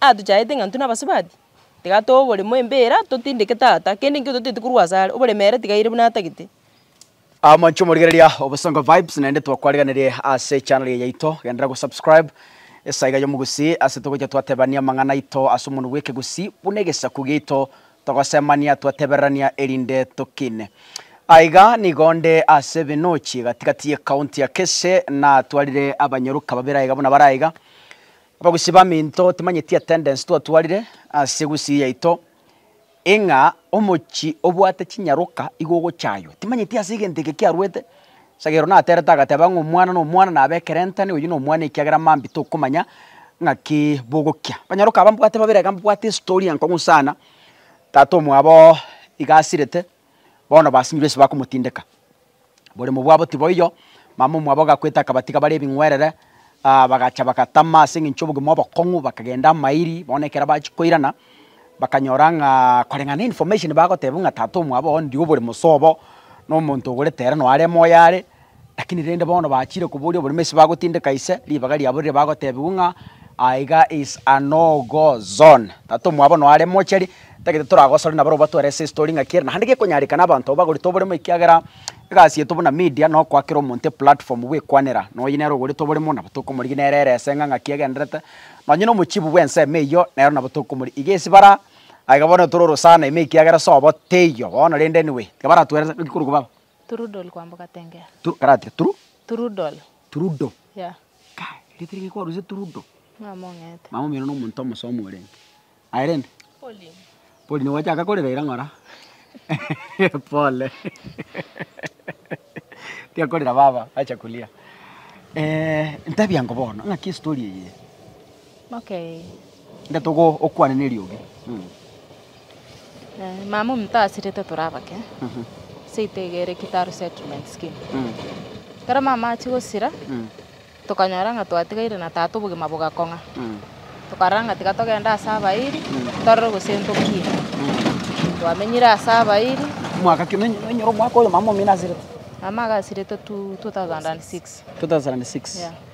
Aa tochaete ng'a intwe nabasubati, tiga tobe oboremo embera, totindeke tata, kende nkio totaeti korwa ase are, oboremo ere tiga aire buna atagete. Amanche omorigereria Obosongo Vibes naende twakwariganirie ase echannel eye yaito, genderera gosubscribe esaa iga y'omogusii ase togocha twatebania amang'ana aito ase omonwa bw'ekegusii buna egesaku giaito togosemania twatebererania erinde tokine. Aiga nigo nde ase Binochi gati gati y'ecounty ya Kesse natwarire abanyoruka babere aiga buna bare aiga. Abagusii baminto timanyeti attendance twatwarire ase egusii yaito, ing'a omochie obwate chinyaroka igo ogochaywa. Timanyeti ase egento eke kiaruete, asegere one aterete agateba ng'a omwana na omwana nabe ekerentane oyio na omwana ekiagera mambi tokomanya ng'aki bogokia. Abanyaroka aba mbwate babere iga mbwate estory enkong'u sana, tata omwabo iga asirete, bono basinyirwe ase bakomotindeka. Oboremu bwabo tiboiyo, mama omwabo agakwete akabatiga bare ebing'werere, bagacha bagatama ase eng'encho y'obogima obokong'u, bakagenda amairi, bono ekero bachia koirana, bakanyora ng'a koreng'ana na information bagotebiwa ng'a tata omwabo onde oboremu sobo, na omonto ogorete ere noo are moyo are, Lakini rende bono bachiire koboria oborimo ase bagotindeka ise, ribaga riabo rire bagotebigwa ng'a aiga is a no go zone. Tata omwabo no are mochari, tagete toragosore nabarobwo batware ase story ng'aki ere. Naende gekonyarekana abanto bagorete oborimo ekiagera egasi yaito buna media no koakera omonto e platform bwekwanera na oyio nere ogorete oborimo nabo tokomorigia nere ere eseng'a ng'aki agenderete. Nonye no omochibu bwe ensemo eyio nero nabo tokomorigia. Iga ase bara aiga bono toro orosana ime ekiagera sobo teiyo bono rende anyway tiga baratwerete naki korokwa baba. Trudol kwamboka tengera. Tru, kare atire tru, Trudol. trudo. Yeah. Kai, erieta eri gekwarusia trudo. Mama ong'ete. Mama omino nomonto omosomi orenge. Aye rende? Pauline. Pauline gwachaka korera ira ng'ora? Pole. Tiga korera baba, acha kuria. Eh, ntabia ngo bono, ng'aki estory eye? Ngetogwo okwane neriogi. Mama ominto asirete tore abake seito iga ere Kitaru Settlement Scheme. Ekero mama achia gosira tokanyora ng'a twatigaire na tata obogima bogakong'a. Tokarora ng'a tiga togende ase abairi torore gose ntokie. Twamenyire ase abairi. Omwaka ki? Nonyora omwaka oyo mama omino asirete? Mama iga asirete two thousand and six. Two thousand and six. Yeah.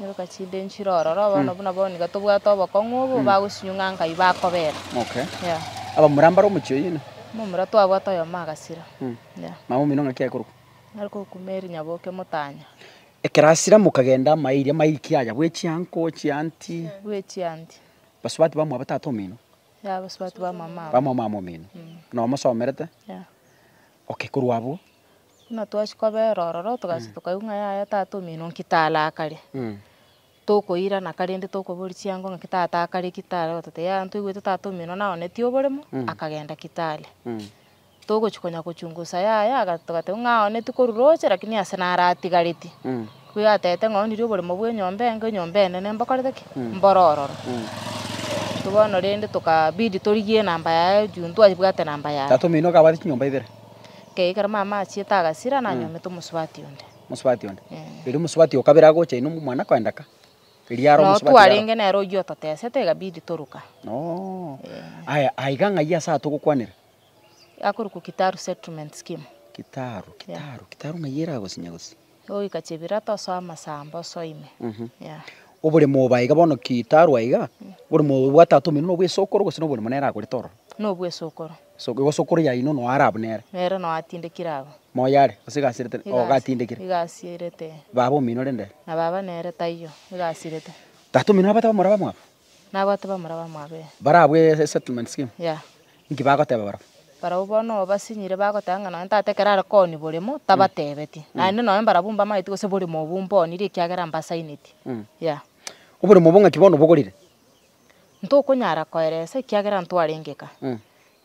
Nyoka chinde nchire ororo, bono buna bono nigo tobwate obokong'u obo, bagochinyung'a nkai bakobera. Okay. Yeah. Abamura mbaro omochie oyio ina. Momura twabwate oyomo agasira. Yeah. Mama omino ng'aki akorokwa. Nari kogokuma eri nyaboke motanya. Ekero asira mokagenda amaye iria amaye ki aya bwe chianko, chianti. Bwe chianti. Basubati bamua ba tata omino. Yeah, basubati bamua mama. Bamua mama omino. Nomosomerete. Yeah. Okay, korwa abwo. Buna twachia kobera ororo togachia tokaigwa ng'a yaya tata omino nki tare akare, tokoirana karende tokoboria chiango ng'aki tata akare ki tare gototebia yaya ntwaigwete tata omino naonetie oboremo akagenda ki tare. Togochia konya kochungusa yaya aga togateba ng'a aonetie korwa roche lakini ase naro atigareti, ko igo atebete ng'a oonirie oboremo bwa enyomba enge enyomba enene mbokorete ki? Mbore ororo. Intwe bono rende tokabidi torigie enamba yaye juu ntwabwate enamba yaye. Tata omino okabwate chinyomba ibere. Ekero mama achiete agasira, nanyomete omosubati onde. Omosubati onde. Erio omosubati o kabere agocha inwe mwana koenda ka. Erio are omosubati. Notwa renge nere oyio ototesete egabidi toruka. Oo. Aya, aiga ng'ai ase atogokwanera? Akorokwa Kitaru Settlement Scheme. Kitaru, Kitaru, Kitaru ng'ai eragosinya gose? Goika chibira tosoe amasamba osoime. Yeah. Oboremo oba iga bono kitarwa iga, oboremo obo obwate atomi buna obw'esokoro gose na oboremo nere agorete ororo? Nobw'esokoro. Esoko igo sokoro yaino noa are abwo nere. Nere noa atindekire abwo. Moyo are, gose egasi erete nere. Oo gatindekire. Egasi erete. Baba omino rende. Na baba nere taiyo, egasi erete. Tata omino nabate bamura bamwabo? Nagoteba omoraba mwabe. Barabue esettlement scheme? Yeah. Inki bagoteba barabwo? Barabwo bono obo basinyire bagoteba ng'a nonye tata ekero are koni boremo tabatebetie. Naende nonye mbarabwo mbamaeti gose boremo obwo mbonirie ekiagera mbasainetie. Yeah. Oboremo obwo ng'aki bono obogorire? Ntokonyara koeresa ekiagera ntwarenge ka.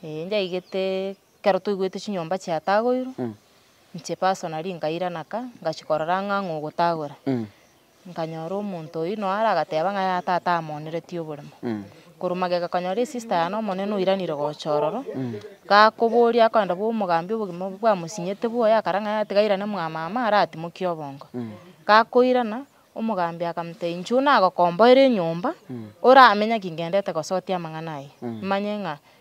Ee, njaigete ekero toigwete chinyomba chiatagoirwe, inche personally ngairana ka, ngachia korora ang'ang'a ogotagora. Nkanyora omonto oyio noyo are agateba ng'a yaya tata amoneretie oborimo. Korwa magega konyora esista yane omonene oiranire gocha ororo, gakoboria akoenda bwa omogambi obogima obo bwamosinyete bwoye akara ng'a yaya tiga airane mwamama aratimokie obongo. Gakoirana, omogambi akamotebia inche oyio nagokomboera enyomba, oramenye ki ngendete gosotia amang'ana ayio, manye ng'a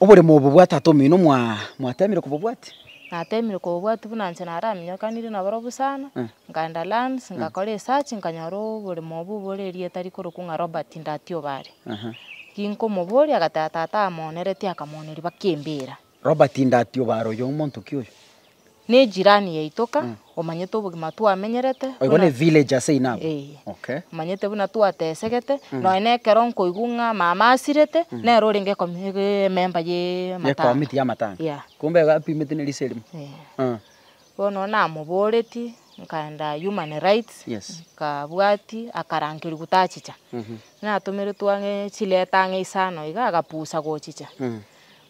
Oboremo obo bwa tata omino mwa mwatemire kobobwati? Natemire kobobwati buna inche naraminyokanire nabarobwo sana, nkaenda lands, nkakora esearch nkanyora oboremo obo bore erieta rikorokwa ng'a Robert Ndati Obare. Aha. Ginkomoboria agateba tata amonereti akamoneria baka embira. Robert Ndati Obare oyo omonto ki oyo? Ne jirani yaito ka, omanyete obogima twamenyerete. Oigo ne village ase inabo. Ee. Okay. Omanyete buna twatesegete, nonya na ekero nkoigwa ng'a mama asirete, nere orenge emember ye Ye matanga. committee ya matanga. Yeah. Kumbe iga apimete ne risa erimo. Ee. Eeh. Bono namoboretie, nkaenda human rights, Yes. nkabwatia, akarankerigwa tachicha. Natomeretwe ang'e chiletter ang'e isano iga, agapusa gochicha.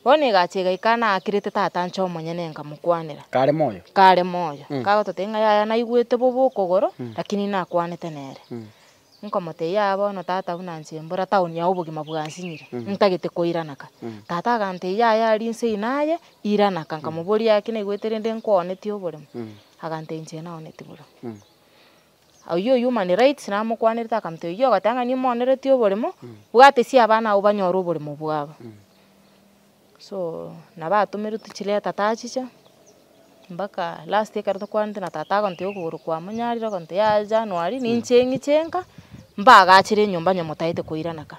Bono egacha egaika naakirete tata anche omonyene nkamokwanera. Kare moyo. Kare moyo. Kagototebia ng'a yaya naigwete bobe okogoro, lakini nakwanete nere. Nkomotebia yaya bono tata buna inche mbora taoni ya obogima bwansinyire, ntagete koiranaka. Tata agantebia yaya aria inse eye naye, iranaka. Nkamoboria yaya ki naigwete rende nkooneti oboremu? Agantebia inche naoneti boremu. Oyio o Human Rights namokwanerete akamotebia, oyio ogatang'ani omonereti oboremo, bwate sia abana abwo banyore oboremo bwabo. So nabo atomeretwe chileta tachicha, mpaka last ekero tokwanete na tata agontebia okogoro kwamonyarire, ogontebia yaya January ninche ng'iche nka, mbagachere enyomba onye motaete koirana ka.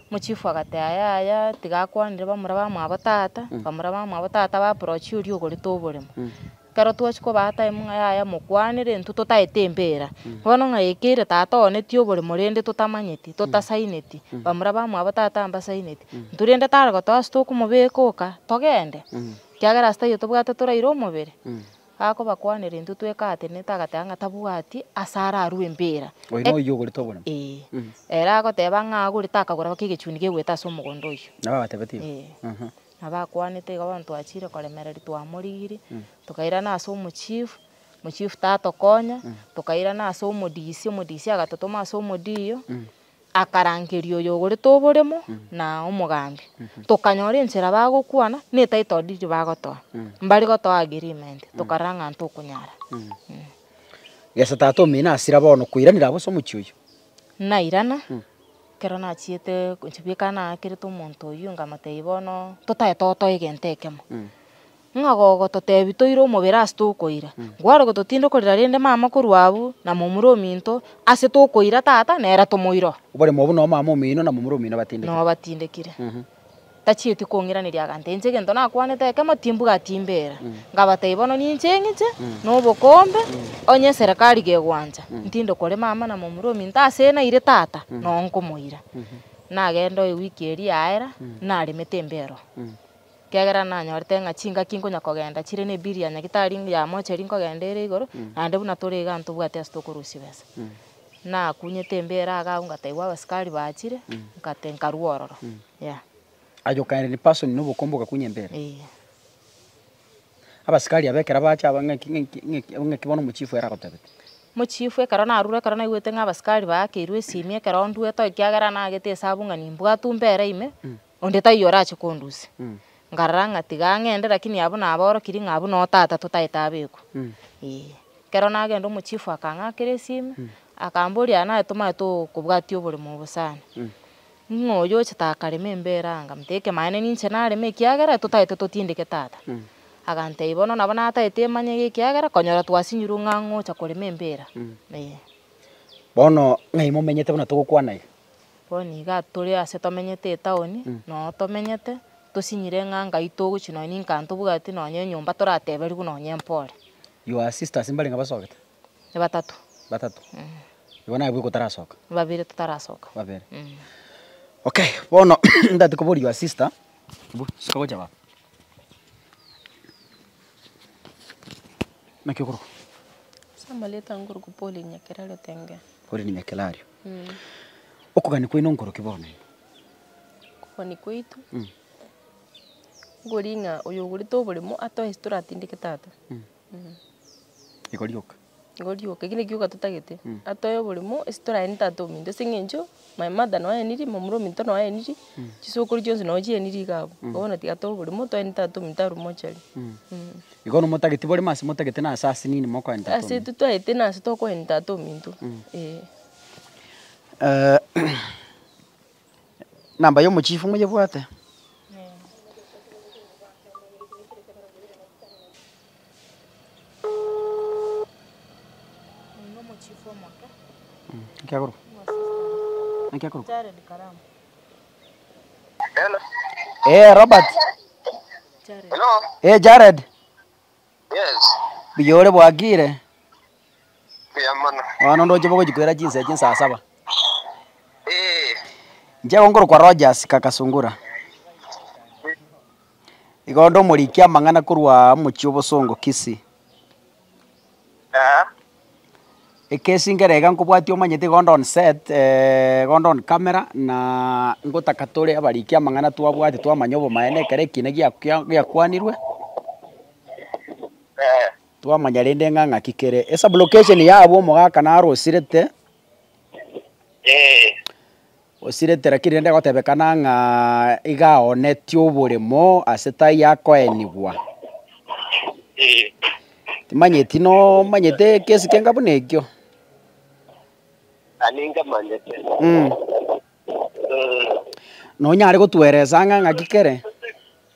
Mochifu agateba, Yaya, tiga akwanere bamura bamwabo tata, bamura bamwabo tata baprochie oria ogorete oboremo. Ekero twachia kobaa time ng'a yaya mokwanere, intwe totaete empera. Bono ng'a yaikeire tata oo netie oboremo rende totamanyeti, totasaineti, bamura bamwabo tata mbasaineti. Intwe rende tare gotoa ase tokomobeka oka, togende, ekiagera ase taiyo tobwate toraire omobere. Akobakwanera intwe twekaatenete agateba ng'a tabwati ase ararue embeera. Oyo Ek- noyio ogorete obono. Ee. Mm. Ere agoteba ng'a agorete akagora baka egechuni gegoeta ase omogondo oyio. Nabo abatebetie. Ee. Mhm. Nabo akwanete iga bono twachire koremereri twamorigiri, tokairana ase omochief, mochief tatokonya, tokairana ase omodisi, omodisi agatotoma ase omodiyo, Akarangeria oyogorete oboremo na omogambi, tokanyora enchera bagokwana ne title deed bagotoa, mbari gotoa agreement, tokarora ng'a ntokonyara. Gesa tata omino asira bono koiranera abwo ase omochie oyio. Nairana, ekero nachiete gochia bweka naakerete omonto oyio nkamotebia bono totaete otoe egento ekemo. Ng'a gogototebi toire omobere ase tokoira, nkware gototinde korira rende mama korwa abwo, na momura ominto, ase tokoira tata, nere tomoira oo. Oboremo obwo noo mama omino na momura omino batindekire. Noo batindekire. Tachieti kong'iraneria agantee inche egento nakwanete ekemo timbuga atimbera. Ngabatebi bono ninche eng'iche, na obokombe, onye eserekari gegwancha, ntinde kore mama na momura ominto ase naire tata, noo nkomoira. Nagende oo ewiki eria yaera, naremete embe ero. Ekiagera nanyorete ng'a chingaki nkonya kogenda chire nebiri ya nyagitari yamocha eria nkogenda ere igoro, naende buna tore igaa ntobwate ase tokorusia besa. Nakunyete embeera igaa agwo ngataigwa abasikari bachire, nkate nkarua ororo, yeah. Aye okaenda in person na obokombe okakunya embeera? Eeh. Abasikari aba ekero bacha aba ng'aki ng'aki ng'aki ng'aki bono omochifu ere agotebete? Mochifu ekero narure ekero naigwete ng'a abasikari baakeirwe esimi ekero ndue toikiagera nagete esabu ng'a nimbwatwe mbere ime, Onde taiyo orache kondusia. Nkarora ng'a tiga ang'ende, lakini abwo nabaorokirie ng'a abwo no tata totaete abekwa. Ee. Ekero nagenda omochifu akang'akera esimi, akamboria aa naye tomanye tokobwatia oboremo obo sana. Ng'a oyo oche takarema embere aa? Nkamotebia ekemaene ninche nareme ekiagera totaete totindeke tata. Agantebia bono nabo nataete emanye y'ekiagera konyora twasinyirwe ng'a ng'ocha korema embere aa. Ee. Bono ng'ai momenyete buna togokwana iga? Bono niga tore ase tomenyete etaoni, na oo tomenyete, tosinyire ng'a Ngai togochia nonye ninka ntobwati nonye enyomba torateberigwe nonye mpore. Your sisters mbarenge abasogete? Batato. Batato. Igo nabwo igotarasoka? Babere totarasoka. Babere. Okay, bono ntati koboria your sister, bu, sika gocha baba. Naki okorokwa? Ase amareta nkorokwa Pauline Nyakerario Tengera. Pauline Nyakerario. Okogania kwaino nkoroki bono ime? Okogania kwaito, nkoria ng'a oyo ogorete oboremo atoe ase toratindeke tata. Igo rioka? Igo rioka, ekio na gioka totagete. Atoe oboremo ase toraeni tata ominto ase eng'encho my mother nao aeniri, momura ominto nao aeniri, chisokoro chionsi nao chieniri iga abwo. Bono tiga atoe oboremo, toe ne tata ominto arwe mochari. Igo nomotageti borimo ase motagete na ase ase nini mokoenta ase ominto? Ase totwaete na ase tokoenta ate ominto, eh. namba ya omochifu moyebwate? Naki akorokwa? Naki akorokwa? Ee Robert. Ee Jared. Mbuya ore bwakire. Bono ndoche bogo chikwera chinsa chinsa asaba. Nche gonkoro kwa Rogers kakasungura. Igondo morikia mangana kurwa mochi obosongo kisi. Ekesi nkere iga nkobwatia omanyete iga onde on set iga onde on camera na ngotaka tore abariki amang'ana twabwate twamanya obomaene ekero ekiina giakwanirwe twamanya rende ng'a ng'aki kere. Esublocation yabo omogaka narosirete. Gosiretera ki rende gotebekana ng'a iga aoonetie oboremo ase taiyo akoenigwa? Timanyeti nomanyete ekesi kenga buna ekio? Ani nkamanyete. Mm. Nonyare gotueresa ng'a ng'aki kere?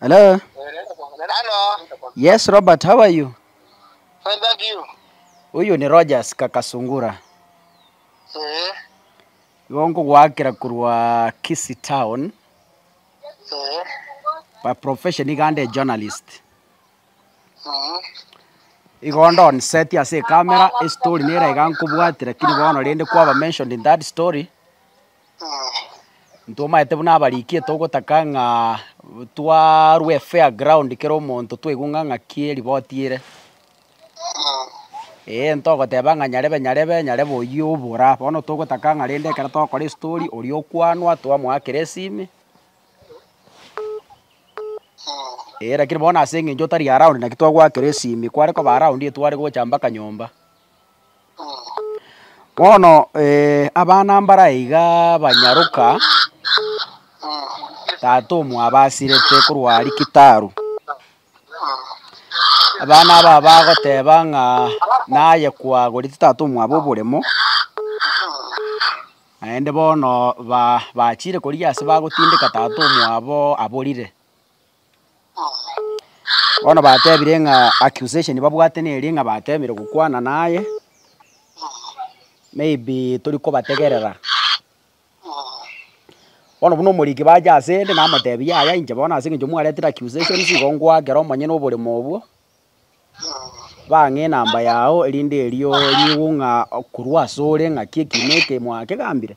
Hello? Hello? Yes, Robert, how are you? Fine, thank you. Uyu ni Rogers Kakasungura. Eh, Igo nkogwakera korwa Kisii Town. eh, By profession igande journalist. mm, Igo ndonseti ase ekamera estory nera iga nkobwate lakini bono rende kwaba mentioned in that story. Ntomaete buna abarikia togotaka ng'a twarwe fair ground kera omonto twaigwe ng'a ng'aki eriboti ere. Ee ntogoteba ng'a nyarebe nyarebe nyarebe oyio obora. Bono togotaka ng'a rende ekero togokora estori oria okwanwa twamoakera esimi. Ee lakini bono ase eng'encho otari around naki twagoakera esimi. Kware koba around tware gocha mpaka nyomba. Bono abana mbaraiga banyaroka, tata omwabo asirete korwa aria kitaru, abana aba bagoteba ng'a naye kwagorete tata omwabo oboremo, naende bono ba bachire koria ase bagotindeka tata omwabo aborire. Bono batebire ng'a accusation babwate neria ng'a bateemire gokwana naye, maybe tori kobategerera. Bono buna omoriki bacha asende namotebi yaya inche bono ase eng'encho mwaretire accusation igo ngoakera omonyene oboremo obwo, bang'e enamba yao erinde erio nyigwe ng'a korwa asore ng'aki ekiina eke mwakegambire.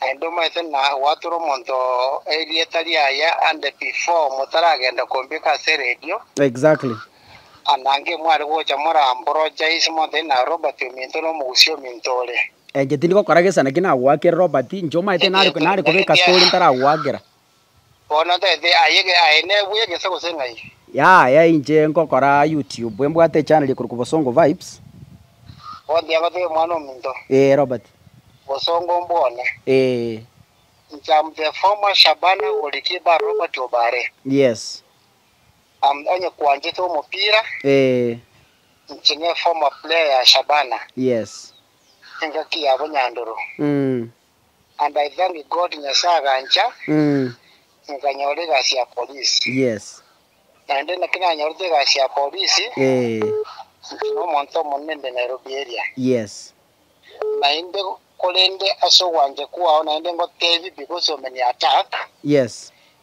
Naende omaete na gwatera omonto erieta riaye ande before motaragenda kombeka ase radio. Exactly. Anange mware gocha mora ambrojais monto ere na Robert ominto na omogusia ominto ore. Enche tindi gokora gesa naki nagoakere Robert, inche omaete nare nare kobeka story ntaragoakera. Bono tete aye aye nebwe egesa gose ng'ai. Yaya inche ngokora youtube embwate echannel ekorokwa bosongo vibes. Bondi agotebia omwana ominto. Ee Robert. Bosongo mbwone. Ee. Inche am the former Shabana goalkeeper Robert Obare. Yes. Am onye kwanchete omopira. Ee. Inche ne former player ya Shabana. Yes. Engaki yabo Nyandoro. Umm. And I thank God Nyasae agancha nkanyora egasi ya polisi. Yes. Naende naki nanyorete egasi ya polisi, intwe nomonto omonene inde Nairobi area. Yes. Naende korende ase ogwancha kwao naende ngotebi because of many attack. Yes.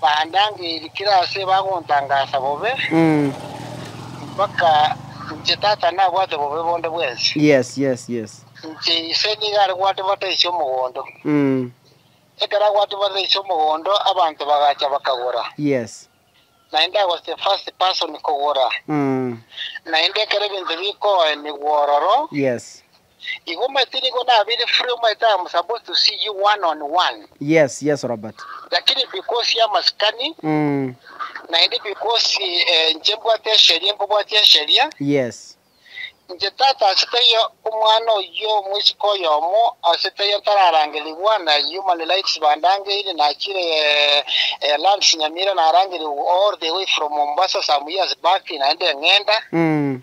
Bandangeirikire ase bagontangasa bobe, mpaka inche Tata nabwate bobe bonde bwensi. Yes, yes, yes. Inche Ise nigo are gwatibata ise omogondo. Ekero agwatibata ise omogondo, abanto bagacha bakagora. Yes. Naende agos the first person kogora. Naende ekero ebinto bikoenigwa ororo, Yes. Igo omanyete nigo nabire free omanyete I am supposed to see you one on one. Yes yes Robert. Lakini because ya masikani Mm. naende because eh, inche mbwate esheria mbabwati esheria, Yes. inche tata ase taiyo omwana oyio omwesiko oyomo ase taiyo tararangerigwa na human rights bandangeire nachire eh, eh, lands Nyamira narangerigwa all the way from Mombasa some years back naende eng'enda Mm.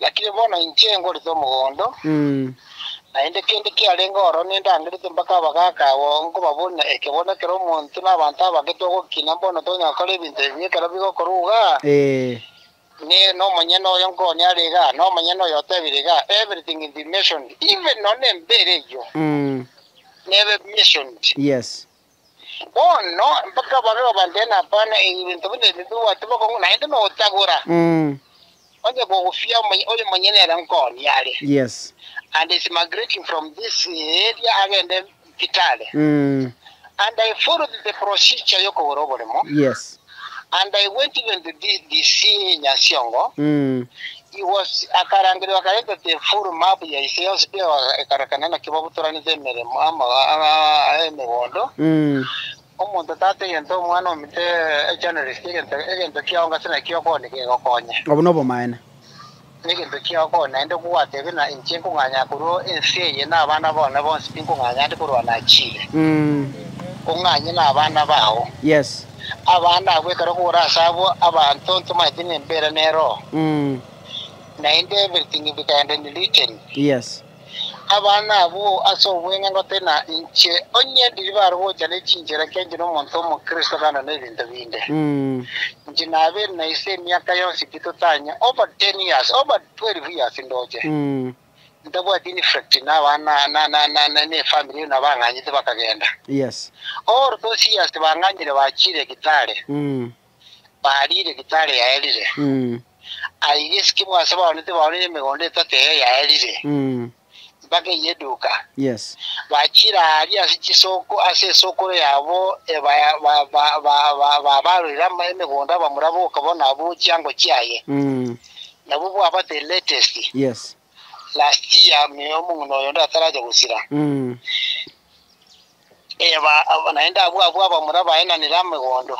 Lakini bono inche ngorete omogondo, naende kende kiarenge oro nindangerete mpaka abagaaka agwo nkobaboria ekebori ekero omonto na abanto abake togokina mbono tonyara gokora ebinto ebi ekero bigokorwa iga, Inee, nomonyene oyo nkooni are iga? Nomonyene oyo otebire iga, Everything will be mentioned, even nonye embeera eyio nebe mentioned. Bono, mpaka babe babambene abana, ebi binto buna ebi mbibwate bokong'u, naende notagora, onye kogufia omonye oyo monyene ere nkoni are, Yes. and is migrating from this area agende Kitale, and I followed the procedure y'okogora oboremo, Yes. And I went even to the DCA Nyasiongo, he was, akarangeria bakareta the full map ya ise yonsi pi ekarekana naki babutoranete emeremo ama emegondo, omonto tata egento omwana omito, a journalist egento egento kiago ngase naki okore nigo egokonye. Obwo nobomaene. Negento kiao koo naende kogwatebe, na inche nkong'anya korwa ense eye, na abana bao na bonsi tinkong'anya ande korwa nachire. Ong'anye nabana bao. Yes. Abana abwo ekero kogora ase abwo abanto ntomanyete ng'a embeera ne Roho, naende everything bikaenda in written. Yes. Abana abwo ase obweng'engote, na inche onye ndiri barogocha ne chinchera ekiagera inche nomonto omokristo kando nebinto binde. Inche nabeire na ise emiaka yonsi titotanya, over ten years, over twelve years ndoche. Ntabwati in effect na abana na ne family eye na bang'anyete bakagenda. Over those years bang'anyire bachiire Kitale. bariire gitari yaerire. Aiga esike bwase baoni tibaonire emegondo etate eye yaerire, mpaka eye eduka. Bachira aria ase chisoko ase esokoro yabo babaroire emegondo abamura boka bono abwo chiango chiaye, nabwo bwabate latest. last year muna omong'ina oyo onde atarache gosira, naende nabwo abwo abamura baye nanire amegondo,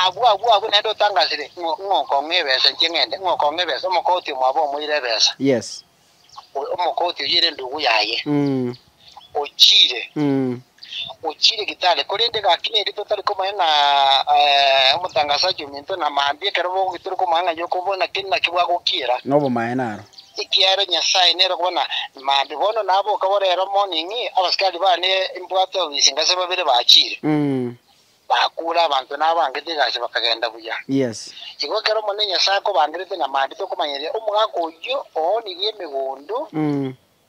abwo abwo abwo naende otangasire ng'a ng'okong'a ebesa inche ng'ende ng'okong'a ebesa omokoti omwabo omoire ebesa, omoka otiye ere endugu yaye. Ochiire, ochiire gitari, korende gaki neri totari komanya ng'a omotangasaji ominto na mambia ekero bogoki tore komanya ng'a nyoko bono naki naki bwagokiera. Nobomaene aro. Ekiagera Nyasae nere okobua na mambia. Bono naboke borero morning, abasikari bane mbwate obisi ngase babere bachiire. Bakuure abanto nabangete egasi bakagenda buya. Yes. Igo ekero Omonene Nyasae akobangerete na mambia tokomanyeria omogaka oyio oonirie emegondo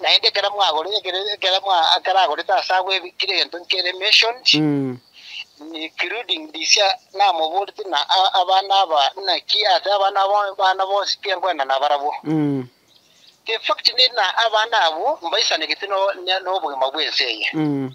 Naende ekero mwagorete, ekero, ekero mwa, ekero agorete ase agwo ebi- kera egento nkere mentioned, Mm. including ndisia namoborete na a- abana aba, naki ase abana abo, abana bonsi tinkwenda nabarabwo. Mm. The fact nina abana abwo mbaisanegete no- ne- nobogima bw'ense eye. Mm.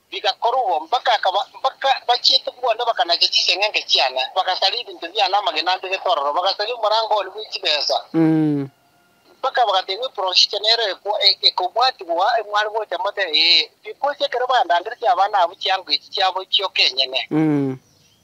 Bigakorwa, mpaka akaba, mpaka bachiete bwane bakanacha chiseng'enke chiane, bagasaria ebinto biane amagena ande getororo, bagasaria omorango one bwe chibesa, mpaka bagateebwa, Eprosite nero ekwa, e, ekobwatigwa, mware gocha mote, ee, bikocha ekero bandandereti abana abwo chianga echi chiabo chioka enyene.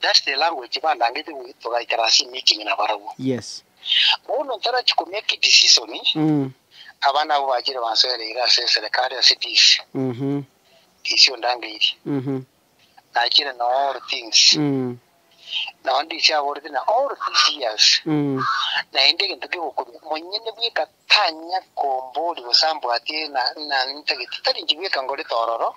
That's the language bandangetie goika togaikara ase emeeting na barabwo. Yes. Bono ntarachi ko make edecision, aba nabo bachire bansoereire ase eserekari ase this, this ondangeirie. Nachire na all things. Nao ndise aborete na all these years, naende egento kegokumia, monyene bweka tanya komboria gose ambwatie na, na, ntagete, tari inche bweka ngorete ororo,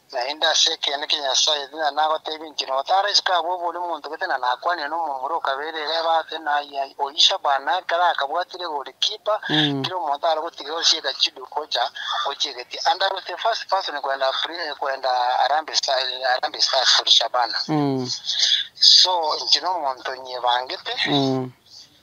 Naende ase ekeene kia Nyasae, buna nagoteebia inche, notara isiko abwo bori monto, gete na nakwanire nomomura o kabere ere ebe ate naye. Aye oyisha bana ekero akabwatire egori kipa, kera omonto are gotiga onsi egachidu gocha gochia egetia. And I was the first person kwenda Pri- kwenda Harambee Sta- eh, Harambee Stars for Shabana. So, inche nomonto nyebangete.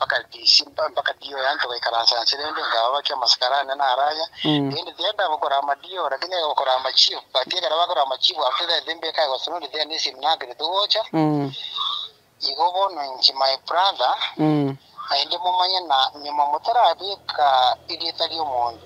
Bakarisimba, bakarioya, intwe baikaransa inse rende, nkababakia amasiko ara ane na ara aya, rende tiga etae gokora amadiiro, lakini etae gokora amachiifu. But ekero bakora amachiifu after that embia etae gosimwa onde tiga nesimi nambere togocha. Igo bono inche my brother, naende momanye na nyuma motarabeka erieta ri'omonto.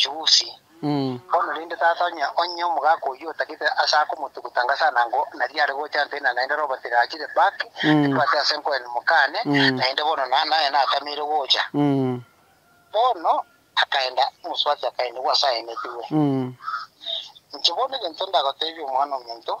Chusi. Bono rende tata onye onye omogaka oyio otagete ase akomotuguta ngasana ngo nari are gocha nte na naende robo tigachire back etwate ase nkoen mokane naende bono na naye natameire gocha bono akaenda mosubati akaenda nigo ase aenetigwe inche bono egento ndagotebia omwana omonto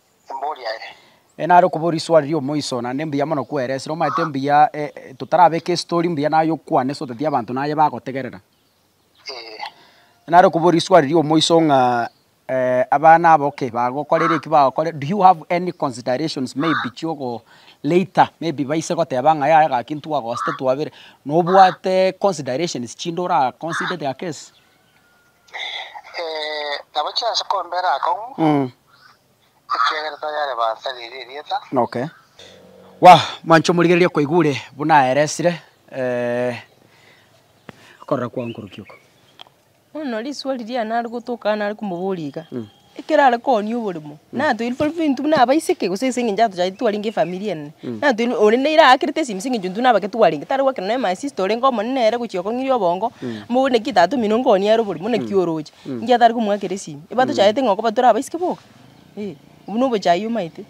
embori yaye. E nare okobora iswali ri'omoiso, naende mbuya mono kweresirie, omanyete mbuya totarabeke estori mbuya naye okwane ase otatiga abanto naye bagotegerera. E nare okobora iswali ri'omoiso ng'a abana abo ki bagokorera eki bagokorera, do you have any considerations maybe chiogo later maybe baise goteba ng'a yaya gaki ntwagosete twabere, nobwate considerations chinde oraconsidete aa case. Nabo chi'ense kombera akong'u, ekiagera tayare bansa riria erieta. Okay. Wa, mwancha omorigereria okoigure buna aeresire okorora kwao nkoruki oko. Bono riria risuo riria nare gotoka nare komoboria iga, Ekero are koonia oboremo, natweire tore fintu buna abaiseke gose ase eng'encho atochagete twarenge efamiri enene. Natweire oria nere aakerete esimi ase eng'encho intwe nabo ekero twarenge, tare goakerwa nere my sister orenge omonene nere gochia kong'iria obongo, mbu bono naki tata omino nkoonia ere oboremo, buna ki oroche? Inki atare komoakera esimi? Eba tochagete ng'a koba tore abaiseke boka? Ee, obwo nobochayia omaete.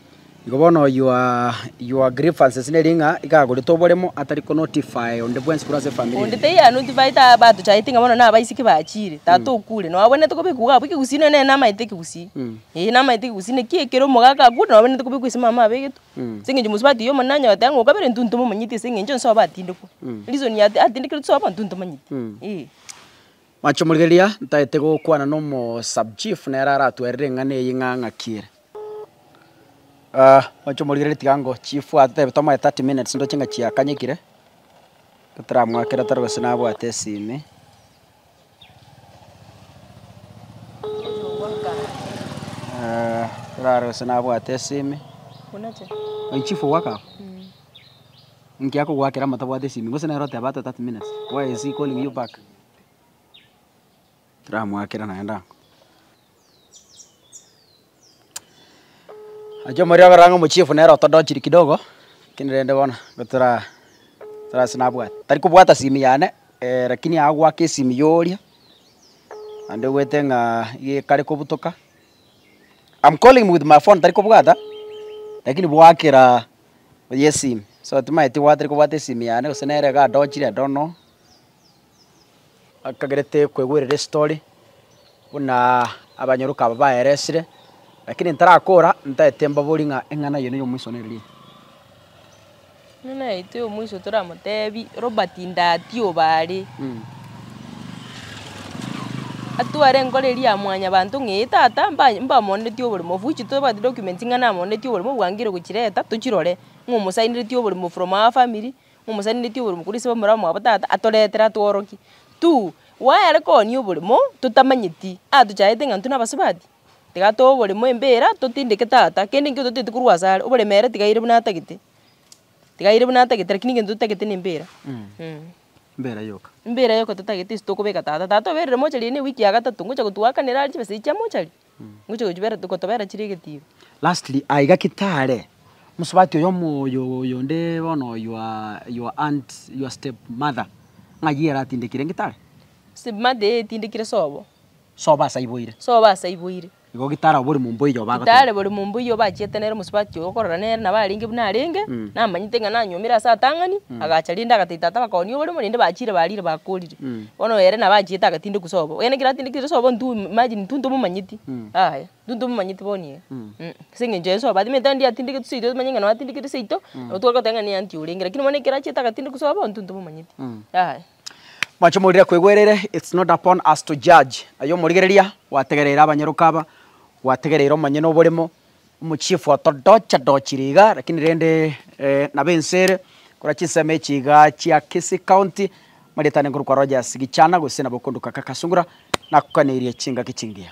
Igo bono your your grievances neri ng'a iga agorete oboremo atari ko notify onde bwensi korwa ase efamiri Onde eye. taiyo ya notify ta batochayete ng'a bono naba isiki bachire tata okure nabo abwenerete kobekwa iga abwo ekegusii nonye nere namaete ekegusii eh namaete ekegusii naki ekero omogaka akure nabo abwenerete kobekwa ase mama abegetwe ase engencho mosubati oyomo nonye nanyora goteeba ng'a okabere intwe intwe momanyeti ase engencho nsoa batindekwa reason ya atindekerwe tosoa abwo intwe intwe tomanyeti eh. Mache morigereria, ntaete gokwana nomo sub chief nere aratwerere eng'ana eye ng'a ng'aki ere. Ah, mache morigereria tiga ngo chief atotebe tomoe 30 minutes ndoche ng'a chiakanyekire, totaramwakera toro gose nabwate esimi. Ah, torare gose nabwate esimi. Oye chief ogwaka aba? Inki akogwakera amo tabwate esimi? Gose nere oteba atoe 30 minutes? Why is he calling you back? Tiramoakera naende ang'o. Achia omoerio akorora ng'a omochiefu nere otodochiri kidogo, lakini rende bono gotoraa tarase nabwate. Tari kobwata simu yane, lakini aye agoaka esimu ya oria, naende oboete ng'aa iga ekare kobutoka, am calling with my phone tari kobwata, lakini boakera oyo esimu, so timanyeti gose nere iga adochire I don't know. Akagerete kwegwerera estory, buna abanyooroka aba baeresire, lakini ntarakoora, ntaete mbaborie ng'a eng'ana eye neyo omoiso nere rie. Buna naete omoiso toramotebi, Robert Ndati obaare, atware enkoro eria ya mwanyabanto ng'a eye tata mba mbamonetie oborimo of which tobwati documents ng'a namonetie oborimo bwange rirogochireta tochirore, ng'a omosainiretie oborimo from our family. Momosanindetie oborimo korwa ase omorero mwabo tata atoretere atworokie. Tuu, gwayare koonia oborimo totamanyeti, atochaete ng'a intwe nabasubati? Tiga too oborimo embera totindeke tata, kende nkio totaeti korwa ase are, oborimo ere tiga aire buna atagete, tiga aire buna atagete lakini egento totagete na embira. Mbera yoka. Mbera yoka totagete ase tokobeka tata. Tata oberire mochari ere na ewiki ya gatato, ngocha gotwakanera chibesa echi chia mochari. gotobera chire egetiba. Lastly I gaki tare mosubati oyo omoyo oyo onde bono your your aunt your step mother ng'ai ere atindekire inge tare? Step mother eye etindekire sobo. Sobo ase aiboire. Sobo ase aiboire. Igo gitare abo bori momba oyo bagoteba. Gitare bori momba oyo obachiete nere mosubati oyo okorora nere nabo arenge buna arenge namanyete ng'a nanyuomire ase atang'ani agacha rende agatebi tata bakaonia oborimo rende bachire barire bakorire. Bono ere nabo achiete agatindeku sobo, onye ekero atindekire sobo intwe imagine intwe ntomomanyeti aye, intwe ntomomanyeti bono iga mm ase eng'encho ere sobo atemete aye ndiye atindegete seito tomanye ng'a nonya atindegete seito, nabo tware goteba ng'a niye aunty orenge lakini bono ekero achiete agatindeku sobo intwe ntomomanyeti yaya. Mwanche morire kwegwerere it's not upon us to judge, aye omorigereria gwategereire abanyaroka aba, gwategereire omonyene oboremo. Omochiefu otodocha dochire iga lakini rende nabo ense ere korwa chinsemo echi iga chia Kisii County marietane nkorokwa Rogers Gichana gose nabo okonduka Kaka Sungura nakokaneirie chingaki chingiya.